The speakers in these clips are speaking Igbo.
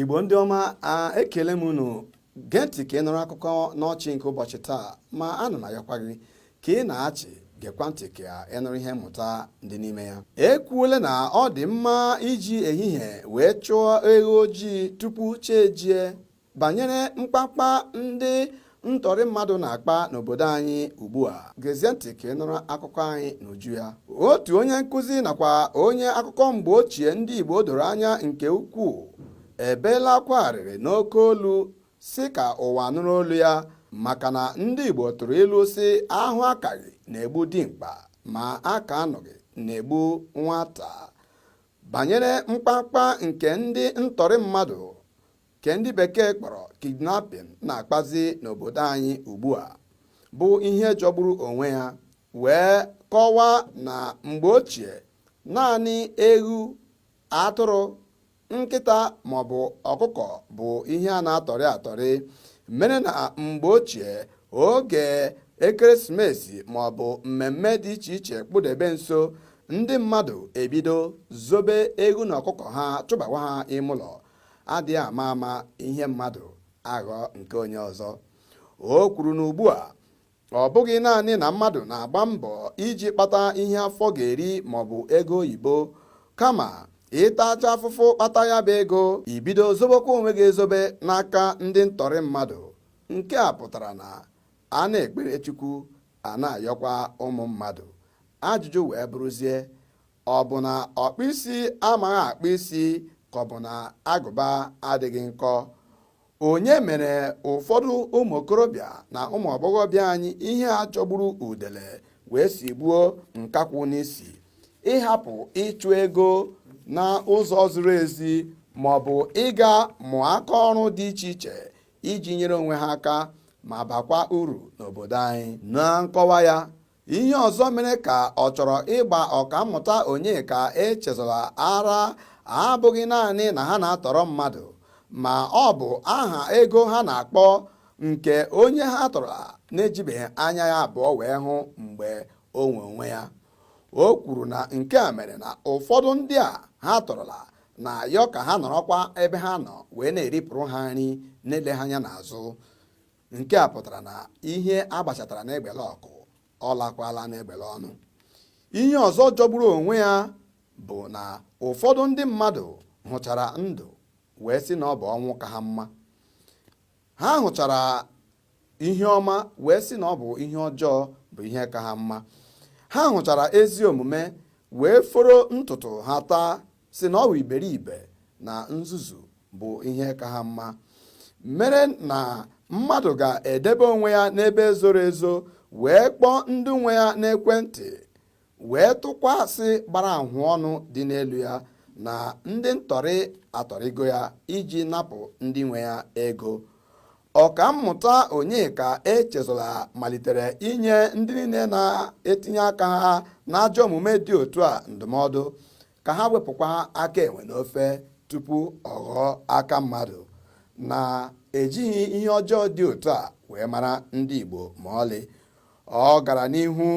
igbo ndị ọma ekele m unu gee ntị ka ị nụrụ akụkọ n'ọchị nke ụbọchị taa ma ana m ayọkwa gị ka ị na-achị gekwa ntị ka ị nụrụ ihe mmụta dị n'ime ya ekwuola na ọ dị mma iji ehihie wee chụọ eghu ojii tupu chi ejie banyere mkpakpa ndị ntọrị mmadụ na-akpa n'obodo anyị ugbu a gezie ntị ka ị nụrụ akụkọ anyị n'uju ya otu onye nkụzi nakwa onye akụkọ mgbe ochie ndị Igbo doro anya nke ukwuu ebeela akwa arịrị n'oke olu sị ka ụwa nụrụ olu ya maka na ndị Igbo tụrụ ilu sị a hụ akaghị na-egbu dimkpa ma a kaa anụghị na-egbu nwata banyere mkpamkpa nke ndị ntọrị mmadụ ke ndị bekee kpọrọ kidnapping na-akpazi n'obodo anyị ugbu a bụ ihe jọgburu onwe ya wee kọwaa na mgbe ochie naanị eghu atụrụ nkịta maọbụ ọkụkọ bụ ihe a na-atọrị atọrị mere na mgbe ochie oge ekeresimesi maọbụ mmemme dị iche iche kpụdebe nso ndị mmadụ ebido zobe eghu na ọkụkọ ha chụbawa ha ime ụlọ adịghị ama ama ihe mmadụ aghọọ nke onye ọzọ o kwuru na ugbu a ọ bụghị naanị na mmadụ na-agba mbọ iji kpata ihe afọ ga-eri maọbụ ego oyibo kama ị tachaa afụfụ kpata ya bụ ego i bido zobekwa onwe gị ezobe n'aka ndị ntọrị mmadụ nke a pụtara na a na-ekpere Chukwu a na-ayọkwa ụmụ mmadụ ajụjụ wee bụrụzie ọ bụ na ọkpụ isi amaghị akpụ isi ka ọ bụ na agụba adịghị nkọ onye mere ụfọdụ ụmụ okorobịa na ụmụ agbọghọbịa anyị ihe a jọgburu udele wee sigbuo nkakwụ n'isi ịhapụ ịchụ ego na ụzọ ziri ezi ma ọ bụ ịga mụọ aka ọrụ dị iche iche iji nyere onwe ha aka ma bakwa uru n'obodo anyị na nkọwa ya ihe ọzọ mere ka ọ chọrọ ịgba ọkammụta Onyeka Echezọla ara abụghị naanị na ha na-atọrọ mmadụ ma ọ bụ aha ego ha na-akpọ nke onye ha tọrọ na-ejibeghị anya ya abụọ wee hụ mgbe o nwe onwe ya o kwuru na nke a mere na ụfọdụ ndị a ha tọrọla na-ayọ ka ha nọrọkwa ebe ha nọ wee na-eripụrụ ha nri na-ele ha anya n'azụ nke a pụtara na ihe a gbachatara n'egbele ọkụ ọ lakwaala n'egbele ọnụ ihe ọzọ jọgburu onwe ya bụ na ụfọdụ ndị mmadụ hụchara ndụ wee sị na ọ bụ ọnwụ ka ha mma ha hụchara ihe ọma wee sị na ọ bụ ihe ọjọọ bụ ihe ka ha mma ha hụchara ezi omume wee foro ntutu ha taa sị na ọ wụ iberibe na nzuzu bụ ihe ka ha mma mere na mmadụ ga-edebe onwe ya n'ebe zoro ezo wee kpọọ ndị nwe ya n'ekwentị wee tụkwa asị gbara ahụ ọnụ dị n'elu ya na ndị ntọrị atọrịgo ya iji napụ ndị nwe ya ego Ọkammụta Onyeka Echezọla malitere inye ndị niile na-etinye aka ha n'ajọ omume dị otu a ndụmọdụ ka ha wepụkwa aka enwe n'ofe tupu ọ ghọọ aka mmadụ na ejighị ihe ọjọọ dị otu a wee mara ndị Igbo ma ọlị ọ gara n'ihu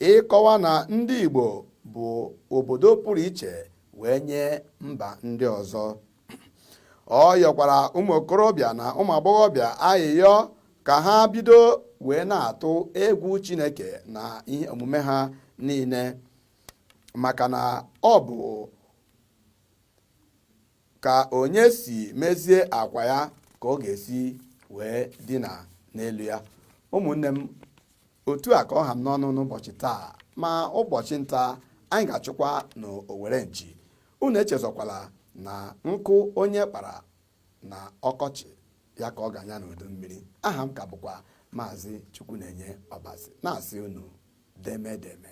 ịkọwa na ndị Igbo bụ obodo pụrụ iche wee nye mba ndị ọzọ ọ yọkwara ụmụ okorobịa na ụmụ agbọghọbịa ayịyọ ka ha bido wee na-atụ egwu Chineke na ihe omume ha niile maka na ọ bụ ka onye si mezie akwa ya ka ọ ga-esi wee dina n'elu ya ụmụnne m otu a ka ọ ha m n'ọnụ n'ụbọchị taa ma ụbọchị nta anyị ga-achụkwa na owere nchi unu echezọkwala na nkụ onye kpara na ọkọchị ya ka ọ ga-anya n'udu mmiri aha m ka bụkwa maazị Chukwunenye Ọbasi na-asị unu deme deme